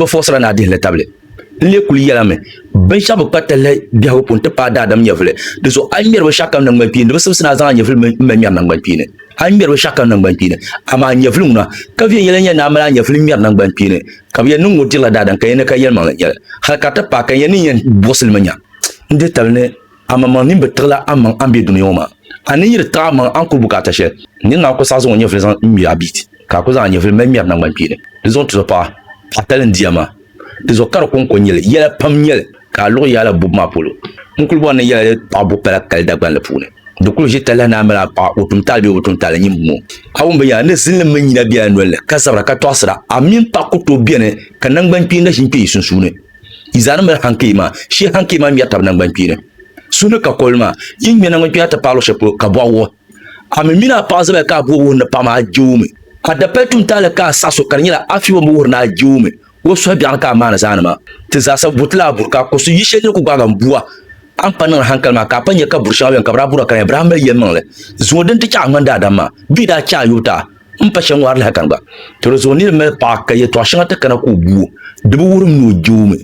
bi fɔɣisira ni a dihi li tabili. N lee kuli yɛla mi, binshɛɣu bi kpa talli biɛhigu pun ti paai daadam nyɛvuli. Di zuɣu a yi ŋmɛri bi shɛɣukam naŋgbankpiini, di bi simsi ni a zaŋ a nyɛvuli mi m-mali ŋmɛri naŋgbankpiini. A yi ŋmɛri bi shɛɣukam naŋgbankpiini, amaa nyɛvuli ŋuna, ka viɛn yɛla n-yɛn ni a mali a nyɛvuli ŋmɛri naŋgbankpiini, ka bi yɛn niŋ ŋɔ dirila daadam ka yɛn ni ka yɛlimaŋli n-nyɛ li, hal ka ti paai ka n yɛn ni yɛn buɣisi li mi nya n-dihi tabili ni Amaa man mini bɛ tiɣila a maŋ a ni be dunia ŋɔ maa, a ni yiri tiɣi a maŋ a ni kuli bukaata shɛli. N ni ŋmaa ku saɣi zaŋ o nyɛvili zaŋ ŋme a biit, ka a ku zaŋ a nyɛvili mali ŋmɛri naŋgbankpeeni. Di zuɣu tizo paɣa, a tali n-di a maa. Di zuɣu ka di kɔŋko n-nyɛ li, yɛla pam n-nyɛ li, ka a luɣi yaala bubu maa polo. N kuli bɔri ni yɛla di paɣi buɣi pala kali Dagbanli puuni. Di kuli ʒi talahi ni a mini a paɣa, o tumtaali bee o bi tumtaali, nyin buŋɔ. A wum binyɛra ni zilinli mini nyina bela nolini, ka zabira ka tɔɣisira. A mini paɣa ku tooi beni, ka naŋgbankpeeni na ʒi n-kpe yi sunsuuni. Yi zaa ni ŋmɛri hankei maa, shee hankei maa ŋmɛri tabi naŋgbankpeeni. Su ni ka kɔli maa, yi ni ŋmɛ naŋgbankpeeni a ti paai luɣ shɛli polo ka bɔɣu wuhi. A mi mini a paɣa zabaya ka a bo wuhi ni paɣa maa, a je o mi. A dapali tuuntaali ka a saɣis o ka di nyɛla a fiɔbo mi wuhiri ni a je o mi. O suhu biɛɣuni ka a maani zaani maa. Ti zaa sa buri ti lahi buri ka a kɔsi yi shɛli dini ku gbaag a m-bua. A ni pa niŋdi hankali maa ka a pa nya ka buri shɛŋa beni ka bɛ daa buri a ka di nyɛla bɛ daa mali yɛlimaŋli zuŋɔ dini ti chɛ a ŋmani daadam maa bee daa chɛ a yubu taa. N pa shɛŋa ŋɔri lahi kani gba, to di zuɣu niri mali paɣa ka yɛtɔɣ shɛŋa ti kana ka o gu o, di bi wuhiri ni o je o mi.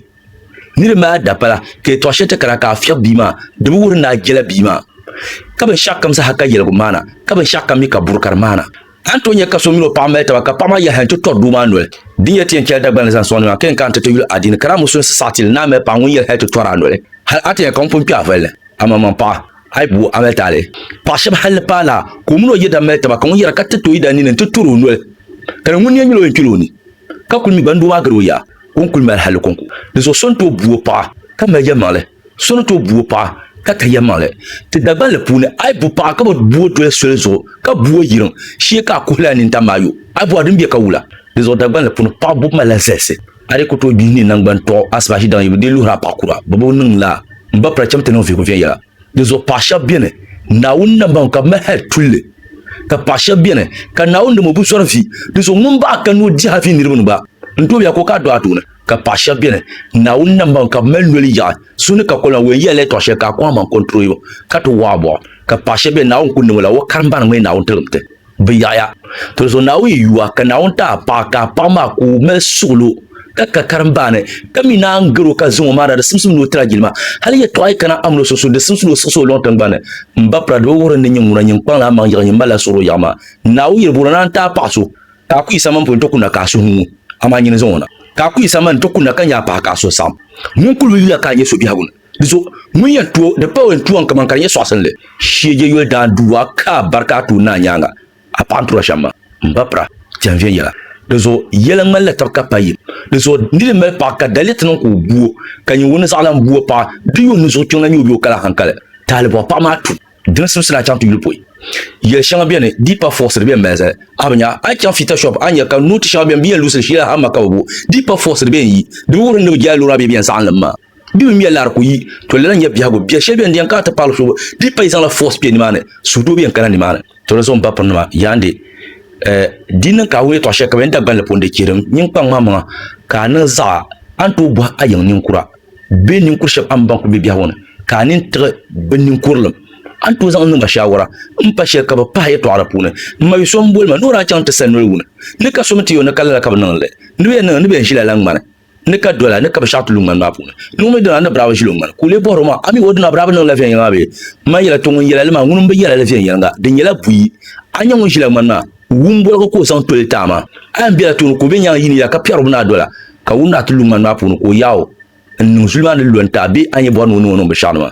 Niri mali adapala ka yɛtɔɣ shɛli ti kana ka a fiɛbi bia maa, di bi wuhiri ni a jela bia maa. Ka binshɛɣukam zaa ka yɛligu maana, ka binshɛɣukam mi ka buri ka di maana. A ni tooi nya ka so mini o paɣa mali taba ka paɣa maa yɛliha n-ti tɔri doo maa noli. Di ni yɛli ti yɛn chɛla Dagbani ni zaŋ sɔŋdi maa ka yɛn kana ti ti yuli adiini ka daa musulinsi saɣiti li ni a mali paɣa ŋun yɛli hal ti tɔri a noli, hal a ti nya ka ŋun pun kpɛ a vali li, amaa man paɣa. Hal bi wuhi Amɛl taali paɣ shɛb hal ni paana ka o mini o yidana mali taba, ka ŋun yɛra ka tiriti o yidana nini nti tur o noli, ka di ni ŋun ni yɛn nyɛla o yɛn kpil o ni, ka kul mi ba ni doo maa gari o yaa, ka o ni kul mali halli kɔŋko. Dinzuɣu so ni tooi bu o paɣa, ka mali yɛlimaŋli, so ni tooi bu o paɣa, ka ka yɛlimaŋli. Ti Dagbanli puuni, a yi bu paɣa ka bi bu o doli soli zuɣu, ka bu o yiriŋ, shee ka a kuhi li a nintani maa yo, a bɔri din bɛ ka wula. Dinzuɣu Dagbanli puuni, paɣ bubu malila zalisi. A di ku tooi gbihi ni naŋgban tɔɣu asibahi daŋ yi bi dii luhir a paɣ kura bɔbigu niŋ la, m ba pira cham ti niŋ vihigu viɛnyɛla. Dinzuɣu paɣ shɛb beni, Naawuni na baŋ ka bɛ mali hal tuli li, ka paɣ shɛb beni, ka Naawuni nim o bi zɔri vi, dinzuɣu ŋun baɣ ka ni o dihi a vi niriba ni ba, n tooi ya ka o ka a dɔɣi a tooni. Ka paɣ shɛb beni, Naawuni na baŋ ka bɛ mali noli yaɣi so ni ka kɔlina wɛn yɛlli tɔɣ shɛli ka a kɔŋ a maŋ kɔntroyo ka ti wɔɣ a bɔɣu. Ka paɣ shɛb beni, Naawuni ku niŋ o la, o karimba ni ŋmɛ Naawuni tiligimti. bi yaɣiya. Tolzo Naawuni yuwa ka Naawuni ti a paɣa ka a paɣa maa ka o mali suɣulo ka ka karimbaani ka mi naan gari o ka zaŋ o maana di simsim ni o tira jilima. Hali yɛtɔɣa yi kana amini o sunsuuni di simsi ni o siɣisi o luŋ tiŋgbani ni. M ba Pira di bi wuhiri ni nyini ŋuna nyini kpaŋ ni amaŋ yiɣi nyin malila suɣulo yaɣi maa. Naawuni yiri booni na n ti a paɣa so ka a ku yi samani polo n ti kunna ka a suhu ŋu amaa nyini zaŋ o na ka a ku yi samani n ti kunna ka nya a paɣa ka a suhu saɣim. Ŋun kuli bi yuya ka a nya so biɛhigu ni. Di zuɣu, ŋun yɛn tuo di pa o yɛn tuo ni kaman ka di nyɛ sɔɣisinli shee je yoli daanduua ka a bari ka a tuun naai nyaaŋa, a paɣa n-tura shɛm ma, m-ba pira ti yɛn viɛnyɛla. Di zuɣu, yɛla ŋmanila taba ka pa yim. Di zuɣu, nir yi mali paɣa ka daliri ti niŋ ka o gu o, ka nya o ni zaɣilan gu o paɣa, di yuun ni zuɣu kpiɔŋ la nyɛ o bee o kali ahankali, taalibɔɣu paɣa maa tu dini simsili a chaŋ ti yuli pɔi. Yɛl shɛŋa beni di pa fɔɣisiri bee m-mali zali. A bi nya, a yi chaŋ fiita shɔp, a ni nya ka nooti shɛŋa beni bɛ yɛn luɣisiri shee la hamma ka bi bo di pa fɔɣisiri bee n-yi di bi wuhiri ni bɛ jɛla lɔra bee bɛ yɛn zaɣinli m-ma. Di mi mia lari ku yi to lala nya biɛhigu biɛ shɛli bɛn diɛn ka a ti paɣili so di pa yi zaŋla force kpɛ nimaani suhudoo bɛn kana nimaani to di zuɣu m ba pirinima yaandi eh, di niŋ ka a wum yɛtɔɣ shɛli ka bɛn Dagbanli pun di chihiri nyin kpaŋ maa maŋa ka a niŋ zaɣa a ni tooi bɔhi a yiŋ ninkura bee ninkuri shɛb a ni baŋ ku be biɛhigu ni ka a nini tiɣi bɛ ninkurilim a ni tooi zaŋ niŋ ba shaawara m pa shɛli ka bɛ pahi yɛtɔɣa la puuni m ma yu so m boli ma ni o daa chaŋ ti sani noli wuni ni ka so mi ti yo ni ka lala ka bɛ niŋ li ni bɛ yɛn niŋ ni bɛ yɛn ʒila la ŋmani Ni ka dola ni ka bi shɛɣu ti lu ŋmani maa puuni. Luŋ mi dina ni biraaba ʒili o ŋmani, ka o lee bɔhir o maa, A mi o dina biraaba niŋla viɛnyɛliŋga maa bee? M ma yɛla, Tɔ! Ŋun yɛla li maa, ŋuni m-bi yɛla li viɛnyɛliŋga, di nyɛla buyi. A nya ŋun ʒila ŋmani maa, wum boligu ka o zaŋ toli ti a maa. A yɛn bela tooni ka o be nyaaŋa yi ni ya ka piɛri o binaa dola, ka wum ni a ti lu ŋmani maa puuni ka o yaai o n-niŋ zuli maa ni lu n-ti a bee a ni yɛn bɔri ni o niŋ o niŋ binshɛɣu ni maa?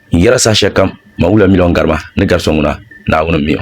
N yɛra saha shɛli kam, man wula miliɔn garima ni gari so ŋuna, Naawuni m-mi o.